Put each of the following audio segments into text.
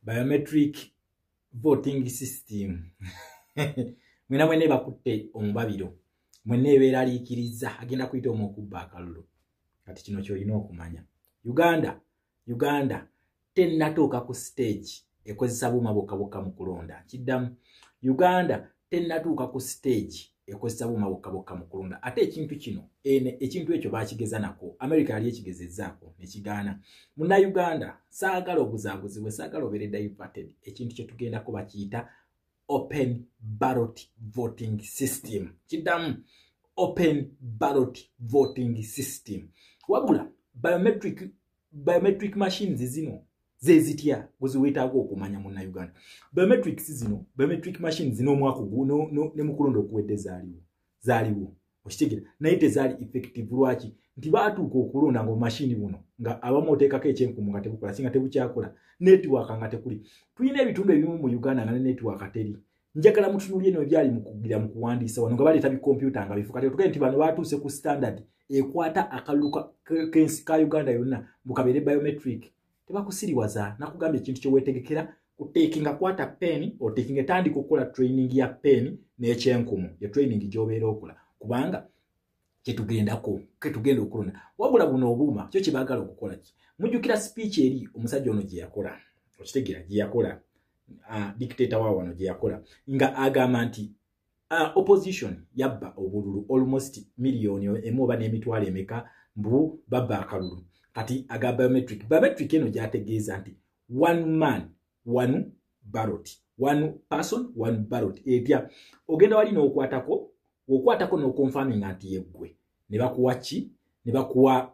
biometric voting system mwena mwena ebakutte omubabiro mwena ebeeraliikiriza agenda kuyita omu okubba akalulu kati kino kyolina okumanya uganda uganda tennatuuka ku stage ekozesa buuma bokka bokka mu kulonda kiddamu uganda tennatuuka ku siteegi ekozesa buuma bokka bokka mu kulonda ate ekintu kino ekintu ekyo baakigeza nako amerika yali ekigezezzaako ne kigaana munnayuganda saagala obuzaabuzibwe saagala obeere diverted ekintu kye tugendako bakiyita open barot voting system kiddamu open barot voting system wabula biometric biometric machines zino zezitya gweziwetaaga okumanya muna uganda biometrics zino biometric machines zino omwaka gwo ne mukulonda okuwedde zaaliwo zaaliwo okitegera naye tezaali effective lwaki nti baatuuka okulonda nga omashini buno nga abamu oteekako ekyenkumu nga tebukola singa tebukyakola netiwaaka nga tekuli tulina ebitundu ebimu mu uganda nga ne netiwaaka teri njagala mutunulye no ebyali mukugira mu kuwandiisa wano nga baleeta bikompyuta nga bifuka tetuge nti bano batuuse ku standard ekwata akalulu kensi ka uganda yonna mukabeere biometric tebakusiriwaza nakugamba ekintu kyewetegekera kutekinga kwata pen otekinga etandika okukola training ya pen n'ekyenkumu ye training gyobeera okola kubanga kyetugendako ketugenda okulona wabula buno obuuma kyo kyebagala okukola ki mujjukira speech eri omusajja ono gyeyakola okitegeera gyeyakola ah, dictator wa wano gyeyakola nga agamba nti ah, opposition yabba obululu almost miliyoni emu oba n'emitwalo emeka mbu babba akalulu kati aga biometric biometric eno gyategeeza nti one man one barot one person one barot etya ogenda wali n'okwatako okwatako n'okonfaminga nti yeggwe ne bakuwa ki ne bakuwa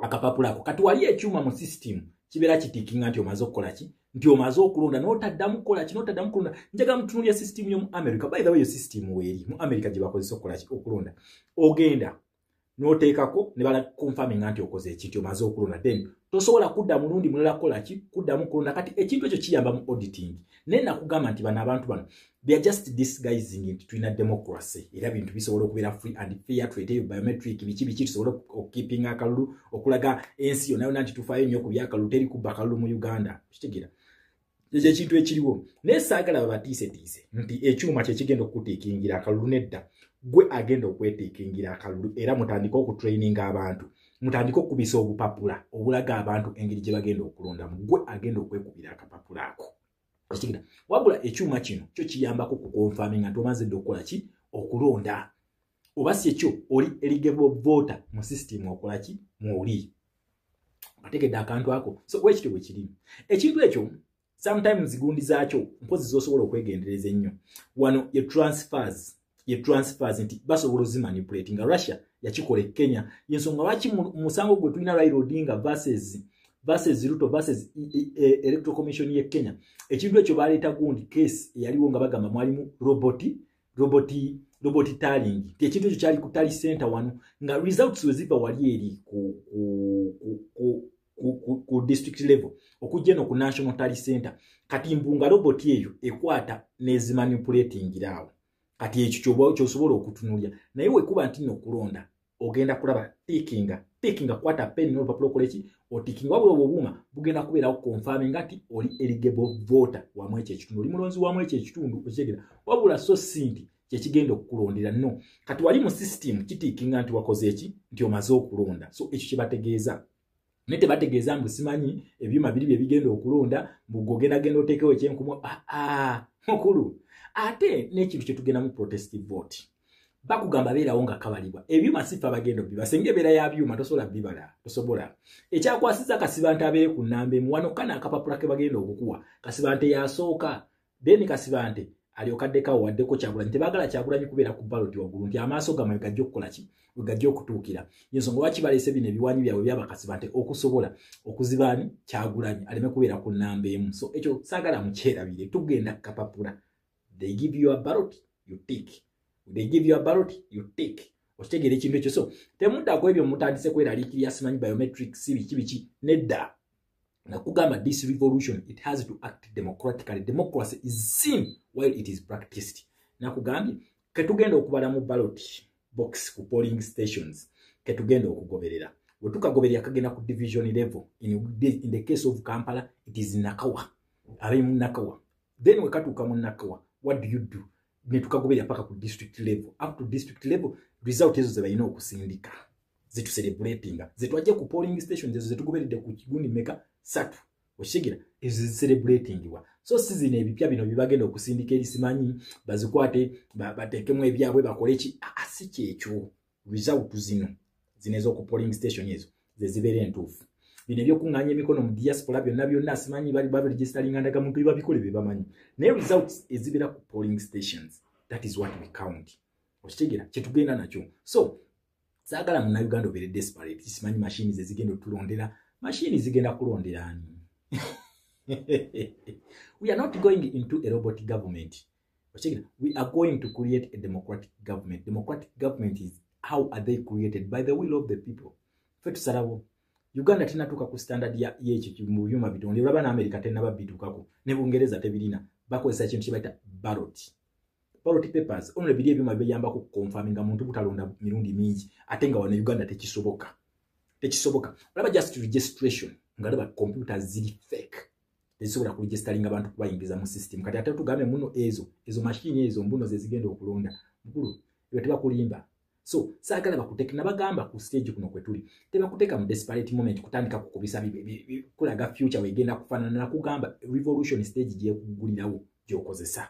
akapapula ako kati wali ekyuma mu system kibeera kitikinga nti omaze okukola ki nti omaze okulonda notaddamu kukola ki notaddamu kulonda njagala mutunulya system y'omu america by the way yo system weeri mu america gye bakozesa okukola ki okulonda ogenda noteekako ne bala confirminga nti okoze ekinti omaze okulonda then tosobola kudda mulundi mulala kukola ki kuddamu kulonda kati ekintu ekyo kiyamba mu auditing naye nakugamba nti bano abantu bano they are just disguising nti tulina democracy era bintu bisobola okubeera free and fair tweteyo biometric biki biki tusobola okukiping akalulu okulaga ensi yona yona nti tufaayo nnyo ku byakalulu teri kubba kalulu mu uganda kitegera ekyo ekintu ekiriwo naye saagala babatiisetiise nti ekyuma kyekigenda okukutiikingira akalulu nedda gwe agenda okwetiikingira akalulu era mutandike okutraininga abantu mutandike okukubisa obupapula obulaga abantu engeri gye bagenda okulondamu gwe agenda okwekubira akapapula ako ekigenda wabula ekyuma kino kyo kiyambako kukonfaminga nti omaze dde okukola ki okulonda oba si ekyo oli eligible voter mu system okola ki mwoli ategedde akantu ako so wekityo bwe kiri ekintu ekyo sometimes gundi zaakyo mpozi zosobola okwegendereza ennyo wano ye transfers ye transfers nti basobola ozimanipulate nga russia yakikola e kenya yensonga lwaki musango gwe tulina rail odinga verses verses ruto verses e, e, e, electoral commission ye kenya ekintu ekyo baleeta gundi case eyaliwo nga bagamba mwalimu roboti roboti roboti talingi nti ekintu ekyo kyali ku tali center wano nga results weziva wali eri ku, ku, ku, ku, ku, ku, ku district level okujja eno ku national tali center kati mbunga roboti eyo ekwata nezimanipulatingiraawo kati ekyo kyosobola okutunulya naye wekuba nti nokulonda ogenda kulaba tikinga tikinga kwata peni n'olupapula okola eki otikinga wabula obwo obuuma bugenda kubeerawo konfami nga ti oli eligable voter wamu ekyo ekitundu oli mulonzi wamu ekyo ekitundu okitegera wabula so si nti kyekigenda okukulondera no kati wali mu system kitikinga nti wakoze eki nti omaze okulonda so ekyo kyebategeeza naye tebategeeza mbu simanyi ebyuma biri bye bigenda okulonda mbugogendagenda oteekewo ekyenkumu aa ah, ah, mukulu ate n'ekintu kye tugenda mu protest vote bakugamba beerawo nga kabalibwa ebyuma sifa bagenda obiba singa ebeera ya byuma tosobola bibala tosobola ekyakwasiza kasibante abeere ku namba emu wano kana akapapula ke bagenda okukuwa kasibante yasooka then kasibante alyoka addeko awo waddeko kyagulanyi tebaagala kyagulanyi kubeera ku baloti waggulu nti amaaso gamwe gajja okukola ki we gajja okutuukira yensonga lwaki baleese bino ebiwanyi byabwe byabakasiba nti okusobola okuzibaani kyagulanyi aleme kubeera ku nnamba emu so ekyo saagala mukyerabire tugenda kukapapula they give you a baloti you tik they give you a baloti you tik okitegeera ekintu ekyo so temuddaku ebyo mutandise kweraliikirya simanyi biometrics biki biki nedda nakugamba this revolution it has to act democratically democracy is seen while it is practiced nakugambye ketugenda okubala mu ballot box ku polling stations ketugenda okugoberera wetukagoberera kagenda ku division level in, in the case of kampala it is nakawa abali mu nakawa then wekatuuka mu nakawa what do you do netukagobera paka ku district level up to district level result ezo zebalina okusindika zetuserebulatinga zetwajja ku polling station ezo zetugoberedde ku kigundi meka satu okitegera ezo zeserebulatingiwa so si zino ebipya bino byebagenda okusindika ebisimanyi bazikwate batekemu ebyabwe bakoleki asi kyekyo result zino zino ez'oku polling station ezo ze zibeera entuufu bino ebyokuŋŋaanya emikono mu diaspora byonna byonna simanyi bali baberegistalinga ndagamuntu bebabikole be bamanyi naye results ezibeera ku polling stations that is what we count okitegera kyetugenda nakyo so saagala muna uganda obeere desperate simanyi mashini ze zigenda otulondera mashini zigenda kulondera ani we are not going into a robot government Okitegera, we are going to create a democratic government. Democratic government is how are they created by the will of the people. Fe tusalawo. Uganda tena tuka ku standard ya yechi kimuyuma bitu. Ndi urabana Amerika tena ba bitu kako. Nebu ungereza tebirina. Bako esa chintu chibaita barot. Barot papers. Ono lebidia bima bibe yamba ku confirminga mtu kutalonda mirundi mingi. Atenga wana Uganda techisoboka. Techisoboka. Uraba just registration. Ngalaba computer zili fake. ezisobola ku registering abantu kubayingiza mu system kati ate tugambe muno ezo ezo machine ezo mbuno ze zigenda okulonda mukulu ebyo tebakulimba so saagala bakuteke nabagamba ku stage kuno kwe tuli tebakuteeka mu desperate moment kutandika kukubisa kulaga future wegenda kufaanana nakugamba revolution stage gyekuggulirawo gyokozesa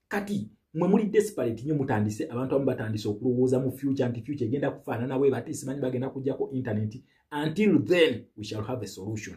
kati mwe muli desperate nyo mutandise abantu abamu batandise okulowooza mu future nti future egenda kufaanana we bati simanyi bagenda kujjako internet until then we shall have a solution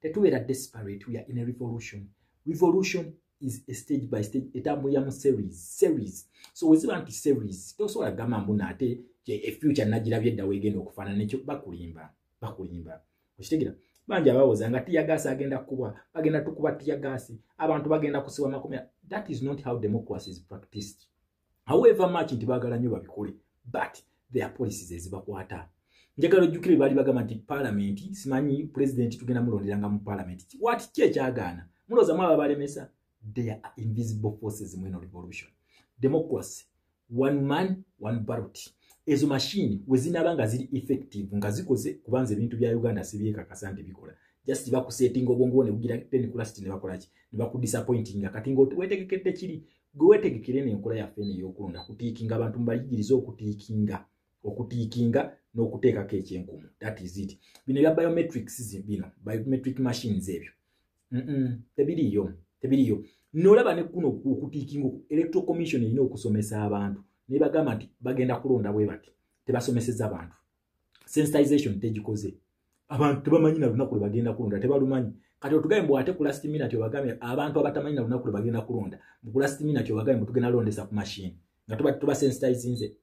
tetubeera desperate we are in a revolution revolution is a stage by stage etambulira mu series series so weziba nti series tosobola kugamba mbu naate efuture nagirabye edda wegenda okufaanana ekyo bakulimba bakulimba okitegera bangi abawoza nga tiyagaasi agenda kubwa bagenda tukuba tiyagaasi abantu bagenda kusibwa makomera that is not how democracy is practiced however much nti baagala nnyo babikole but their policies ezibakwata njagala ojjukire baali bagamba nti paalamenti simanyi pulezidenti tugenda mulonderanga mu paalamenti wati ki ekyagaana mulooza mwaba balemesa there are invisible forces mweno revolution democracy one man one barot ezo mashini wezinaba nga ziri effective nga zikoze kubanza ebintu bya uganda sibyekakasa nti bikola just bakusetinga obwongo bwo nebugira tenikula siti nebakolaki nebakudisappointinga kati nga wetegekedde kiri gwe wetegekere eno enkola yaffe eno eyokulonda kutiikinga abantu mubayigirize okutiikinga okutiikinga n'okuteekako ekyenkumu that is it bino ebya biometrics bino biometric machines ebyo tebiriiyo tebiriiyo nolaba nekuno okutiikinga electoral commission erina okusomesa abantu nebagamba nti bagenda kulonda bwe bati tebasomeseza bantu sensitization tegikoze abantu tebamanyi na lunaku lwe bagenda kulonda tebalumanyi kati otugaye mbu ate kulastimina tyobagambe abantu abatamanyi na lunaku lwe bagenda kulonda mukulastimina tyobagambe mutugenda londesa ku mashini nga tuba tuba sensitizinze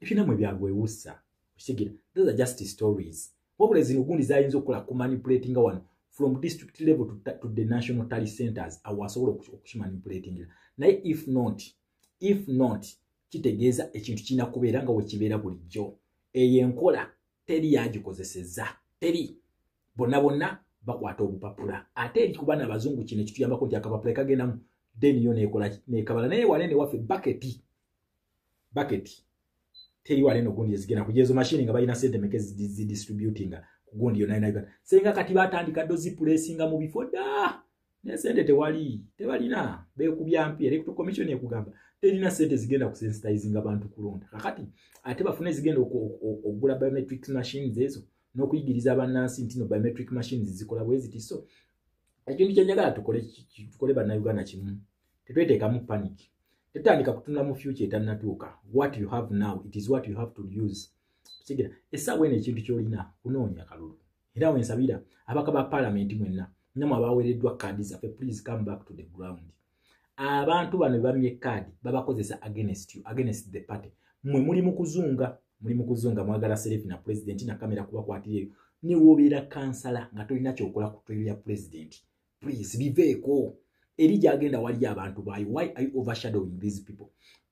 ebinamwe byagwewussa okitegera those are just stories wabula zino gundi zayinza okukola ku manipulating wano from district level to, to the national tally centers awo asobola okukimanipulatingira naye if not if not kitegeeza ekintu kirina kubeera nga wekibeera bulijjo eyo enkola teri yagikozeseza teri bonna bonna bakwata obupapula ate eri ku baana abazungu kino ekituyambako nti akapapula ekagendamu then yo nekola nekabala naye wale ne wafe bucket bucket teri wale no gundi ezigena ku jezo machine nga bayina sente meke zi distributing ku gundi yo nayo nayo senga kati batandika dozi pulesinga mu bifoda naye sente tewali tebalina bekubya mpi electoral commission ekugamba terina sente zigenda kusensitizinga abantu kulonda kakati ate bafune zigenda okugula biometric machines ezo n'okuyigiriza abannansi nti no biometric machines zikola bweziti so ekintu kyenjagala tukole tukole bannayuganda kimu tetweteekamu panic tetandika kutunula mu future etannatuuka what you have now it is what you have to use kitegera essaawa eno ekintu kyolina kunoonya kalulu era wensabira abaka ba palamenti mwenna namwe abaweereddwa kaadi zaffe please come back to the ground abantu bano bebamye kaadi babakozesa against you against the party mwe muli mu kuzunga muli mu kuzunga mwagala serefi na pulezidenti nakamera kubakwatireyo newobeera kansala nga tolina kyokola ku toyo ya pulezidenti please biveeko eri gyagenda waliyo abantu baayo why are you overshadowing these people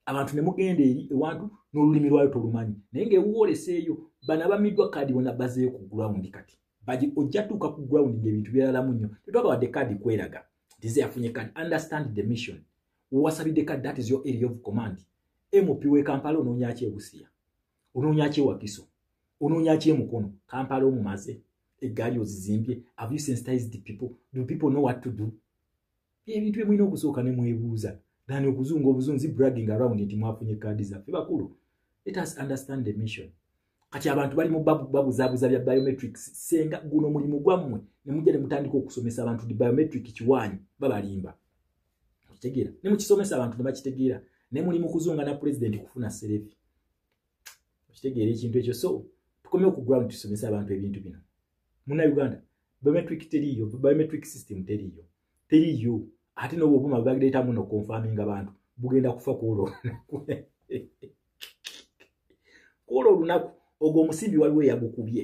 abantu ne mugenda eri ewantu n'olulimi lwayo tolumanyi naye ng'ewuwoleseeyo bano abamiddwa kaadi bona bazeeyo ku ground kati bagi ojja tuuka ku ground ng'ebintu byeralamu nnyo tetwagawadde kaadi kweraga tize yafunye kaadi understand the mission wewasabidde kaadi that is your area of command mp w'e kampala onoonyaki ebusiya onoonya ki ewakiso onoonya ki emukono kampala omumaze eggaali ozizimbye have you sensitized the people do people know what to do ebintu byemulina okusooka ne mwebuuza than okuzunga obuzunzi bragging around nti mwafunye kaadi zaffe bakulu let us understand the mission kati abantu bali mu babuzabuza bya biometrics senga guno mulimu gwammwe ne mujja ne mutandika okusomesa abantu di biometric kiwaanyi babalimba okitegeera ne mukisomesa abantu ne bakitegeera ne muli mu kuzunga na pulezidenti kufuna serefi okitegeera ekintu ekyo so tukomye ku ground tusomese abantu ebintu bino muna uganda biometric teriiyo biometric system teriiyo teriiyo ate nobwo obuma bwebagireetamu nokonfaminga abantu bugenda kufa kwolwo olunaku kwolwo olunaku ogwo omusimbi waliwo eyagukubye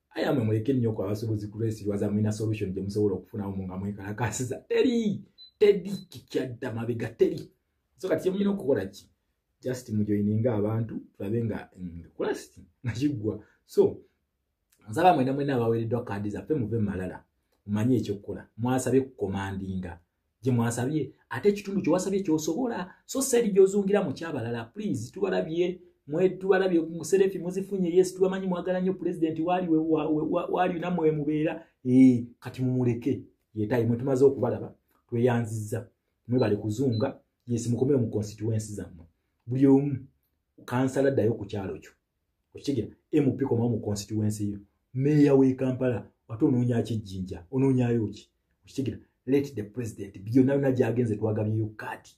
aye amwe muleke nnyo ku abasubuzi kulwesirwaza mulina solution gye musobola okufunawo mu nga mwekalakaasiza teri teri kikyadda mabega teri so kati kyemulina okukola ki just mujoininga abantu tulabe nga mm, kulasiti nga kiggwa so nsaba mwena mwena abaweereddwa kaadi zaffe muve mu malala mumanye ekyokukola mwasabye kukomandinga gye mwasabye ate ekitundu kye wasabye kyosobola so said gyozungira mu kyabalala please tubalabye mwetubalabye muserefi muzifunye yes tubamanyi mwagala nnyo pulezidenti waali waali namwe wemubeera ee kati mumuleke yetaye mwe tumaze okubalaba tweyanzizza mwebale kuzunga yes mukomere mu constituensi zammwe buli omu kansala ddayo ku kyalo kyo okitegera mp komawo mu constituency yo meeya w'e kampala ate onoonya kijjinja onoonyayo ki okitegera let the president byonna byonna gyagenze twagabyeyo kaati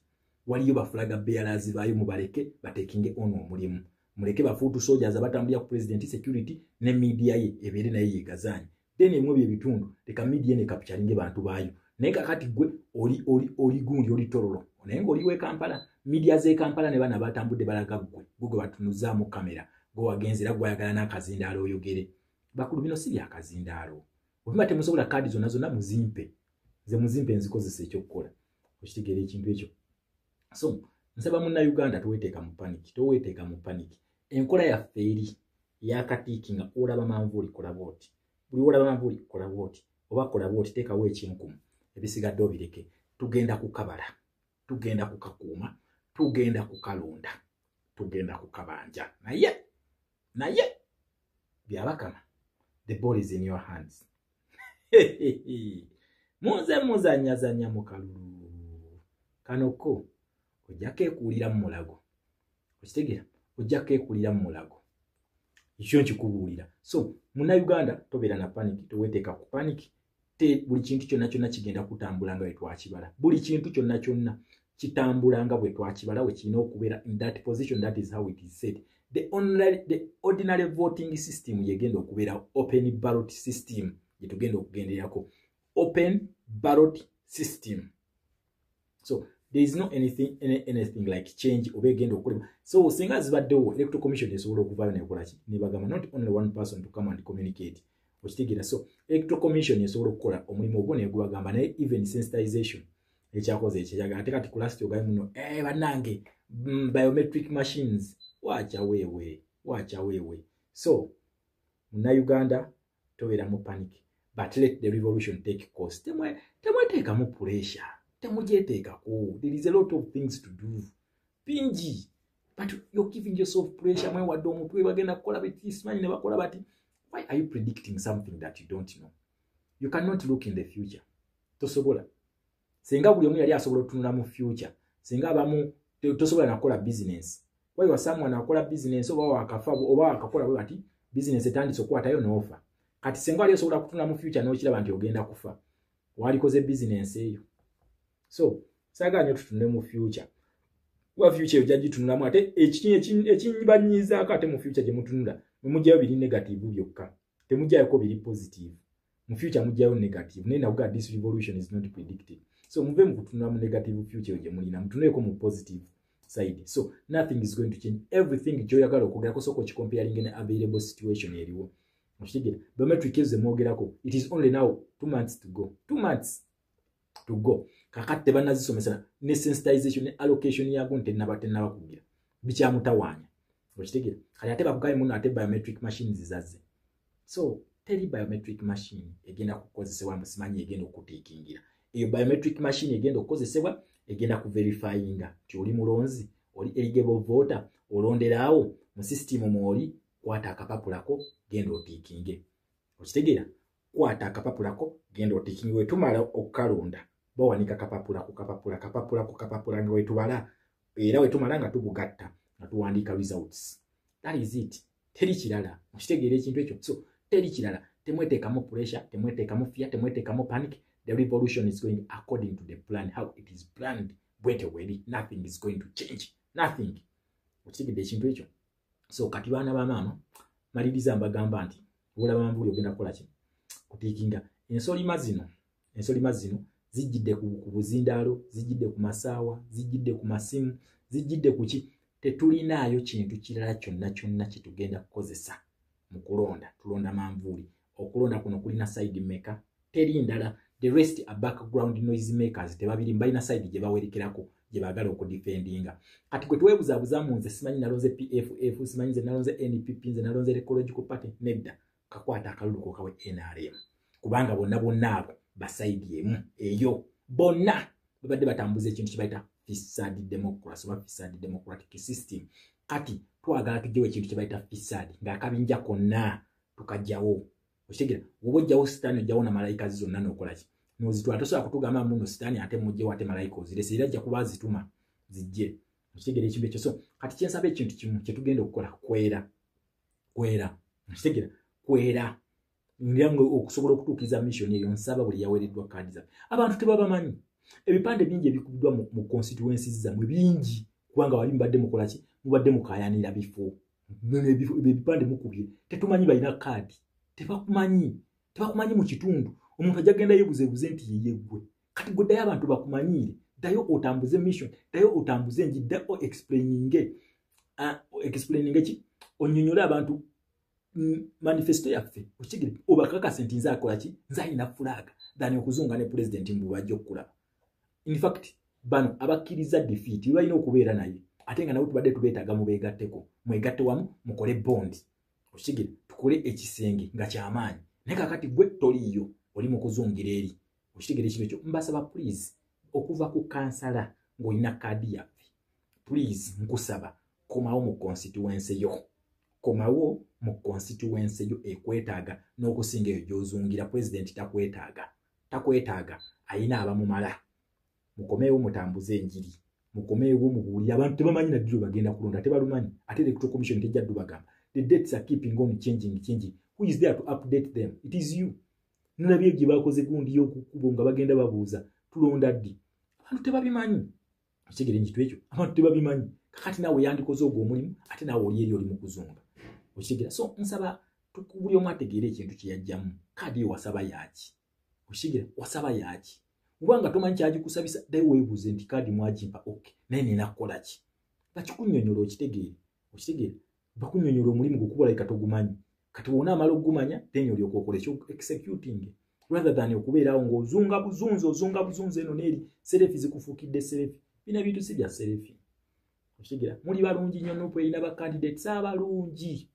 waliyo bafulaga bealazi baayo mubaleke batekinge ono omulimu muleke bafuutu sojaza batambulira ku president security ne media ye ebeere naye yegazaanyi then emwe bye bitundu leka media ne capture nge bantu bayo naye kakati gwe oli oli oli gundi oli torolo naye ngoli we Kampala media ze Kampala ne bana batambude balaga gwe gugo batunuza mu kamera go wagenzira gwa yagala na kazindalo oyogere bakulu bino si bya kazindalo obima temusobola kadi zona zona muzimpe ze muzimpe nzikozese ekyo kukola okitegere ekintu ekyo so nsaba munna uganda toweteeka mu paniki toweteeka mu paniki enkola yaffe eri yakatiiki nga olaba manvuuli kolaba oti buli olaba manvuuli kolaba oti oba kolaba oti teekawo ekinkumu ebisigadde obireke tugenda kukabala tugenda kukakuuma tugenda kukalonda tugenda kukabanja naye naye byabakama the ball is in your hands muze muzanyazanya mukalulu kano ko ojja kekuulira mu mulago okitegera ojja kekuulira mu mulago ekyo nkikubuulira so munauganda tobeera na paniki toweteeka ku paniki te buli kintu kyonna kyonna kigenda kutambula nga wetwakibala buli kintu kyonna kyonna kitambula nga bwetwakibala wekirina okubeera in that position that is how it is said the, only, the ordinary voting system yegenda okubeera open barot system gyetugenda okugenderako open barot system so there is no anything any, anything like change oba egenda okukolebwa so singa zibaddewo electoral commission esobola okuvaayo nekolaki nebagamba not only one person to come and communicate okitegeera so electoral commission esobola okukola omulimu ogwo negubagamba naye even sensitization ekyakoze ekyeyaga ate kati kulast ogaye muno eh, banange mm, biometric machines wacha wewe wacha wewe so munauganda tobera mu panic but let the revolution take course temwe temwe take mu pressure temwe je take ko there is a lot of things to do pinji but you're giving yourself pressure mwe wado mutwe bagenda kola biti smile ne bakola bati why are you predicting something that you don't know you cannot look in the future tosobola senga buli omu yali asobola otunula mu future senga abamu tosobola nakukola business waiwa someone akola business oba wakafa oba wakakola bwe bati business etandise okukwatayo noofa kati senga wali osobola kutunula mu future nokiraba nti ogenda kufa walikoze business eyo so sagala nyo tutunule mu future kuba future eyo jagitunulamu ate ekinyi ekinyibanyizaako ate mu future gyemutunula mwemujayo biri negative byokka temujjayoko biri positive mu future mujjayo negative naye nakuga this revolution is not predicted so muve mu kutunula mu negative future gye mulina mutunuleeko mu positive side so nothing is going to change everything kyoyagala okwogera kusooka okikompeyalinga ne available situation eriwo okitegera biometric ezo zemwogerako it is only now two months to go two months to go kakati tebanazisomesa ne sensitization ne allocation yago ntenaba tenaba kugira bikyamutawaanya okitegera kati ate bakugaye muno ate biometric machines zaze so teri biometric machine egenda kukozesebwa mbu simanyi egenda okutiikingira eyo biometric machine egenda okukozesebwa egenda kuverifyinga nti oli mulonzi oli eligable voter olonderaawo mu system mwoli kwata akapapulako genda otiikinge okitegeera kwata akapapula ko genda otikingi wetumala okukalonda bawanika kapapula ku kapapula kapapula ku kapapula nga wetubala era wetumala nga tubugatta nga tuwandiika results that is it teri kirala mukitegeera ekintu ekyo so teri kirala temweteekamu pressure temweteekamu fear temweteekamu panic the revolution is going according to the plan how it is planned bwete weri nothing is going to change nothing okitegedde ekintu ekyo so kati baana ba maama maliriza mbagamba nti olaba mambuli ogenda kukola ki kutiikinga ensolima zino ensolima zino zijjidde ku buzindaalo zijjidde ku masaawa zijjidde ku masimu zijjidde ku ki tetulinaayo kintu kirala kyonna kyonna kyetugenda kukozesa mu kulonda tulonda manvuuli okulonda kuno kulina side maker teri ndala the rest a background noise makers tebabiri mbalina side gye bawerekerako gye bagala okudefendinga kati gwe twebuzabuza mu nze simanyi nalonze pff simanyi nze nalonze npp nze nalonze ecological party nedda kakwata akalulu kokawe nrm kubanga bonna bonna abo basaidi emu eyo bonna babadde batambuza ekintu kibaita fisad democracy oba fisad democratic system kati twagala tujewo ekintu kibaita fisad ngaakabinja konna tukajjawo okitegera woba ojjawo sitaani ojjawo na malayika ze zonna nokolaki nozitwala tosobola kutugamba muno sitaani ate mujjewo ate malayika ozirese era ajja kuba azituma zijje okitegera ekintu ekyo so kati kyensaba ekintu kimu kyetugenda okukola kwera kwera okitegera kwera ngira nga okusobola okutuukiriza missioni eyo nsaba buli yaweereddwa kaadi zaffe abantu tebabamanyi ebipande bingi ebikubiddwa mu constituencies zamwe bingi kubanga wali mubadde mukolaki mubadde mukayanira bifo ebipande mukubye tetumanyi balina kaadi tebakumanyi tebakumanyi mu kitundu omuntu ajja genda yebuzebuze nti yeyeggwe kati gwe ddayo abantu bakumanyiire ddayo otambuze mission ddayo otambuze enji dda o explaininge ah, explaininge ki onyonyole abantu mm, manifesto yaffe okigire obakakase nti nze akola ki nze alina fulaaga than okuzunga ne pulezidenti mbu bajja okukulaba in fact bano abakkiriza defeat balina okubeera naye ate nga nabo tubadde tubeetaaga mubeegatteko mwegatte wamu mukole bondi okitegere tukole ekisenge nga kyamaanyi naye kakati gwe toliiyo oli mu kuzungira eri okitegere ekintu ekyo mbasaba please okuva ku kansala ng'olina kaadi yaffe please nkusaba komawo mu konsituwense yo komawo mu konsituwense yo ekwetaaga n'okusinga eyo gy'ozungira pulezidenti takwetaaga takwetaaga ayina abamumala mukomeewo mutambuze enjiri mukomeewo mubuulire abantu tebamanyi naddiro bagenda kulonda tebalumanyi ate the electoral commission tejja ddu bagamba the dates are keeping on changing changing who is there to update them it is you nolabye gye bakoze gundi y'okukubo nga bagenda babuuza tulonda ddi abantu tebabimanyi okitegere nkitu ekyo abantu tebabimanyi kakati naawe yandikoze ogwo omulimu ate naawe oli eri oli mu kuzunga okitegera so nsaba buli omu ategeere ekintu kye yajjamu kaadi yo wasaba yaaki okitegera wasaba yaaki oba nga tomanyi kyagikusabisa ddayo weebuuze nti kaadi mwagimpa ok naye nina kukola ki nga kikunyonyola okitegeere okitegeere bakunyonyola omulimu gukuba like togumanyi kati wona amala okugumanya then olyoka okola ekyo executing rather than okubeerawo ng'ozunga buzunzi ozunga buzunzi eno neeri serefi zikufuukidde serefi bina bintu si bya serefi okitegera muli balungi nnyo nupu erina ba candidates abalungi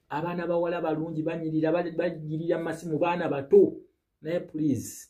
abaana bawala balungi banyirira bagirira masimu baana bato naye please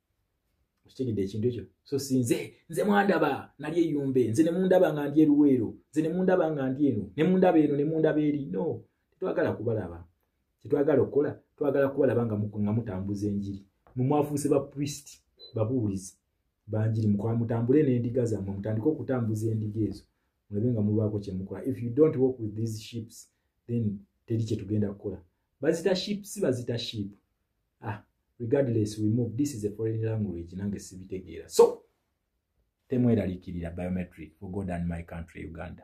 kitegedde ekintu ekyo so si nze nze mwandaba nali eyumbe nze ne mundaba nga ndi eruweero nze ne mundaba nga ndi eno ne mundaba eno ne mundaba eri no tetwagala kubalaba kyetwagala okukola twagala kubalaba nga nga mutambuza enjiri mwe mwafuuse ba priest babuulizi banjiri mukola mutambule n'endiga zammwe mutandike okutambuza endiga ezo mulabe nga mubaako kyemukola if you don't work with these ships then teri kyetugenda kukola bazita ships bazita ship ah regardless we move this is a foreign language nange sibitegeera so temweralikirira biometric for god and my country uganda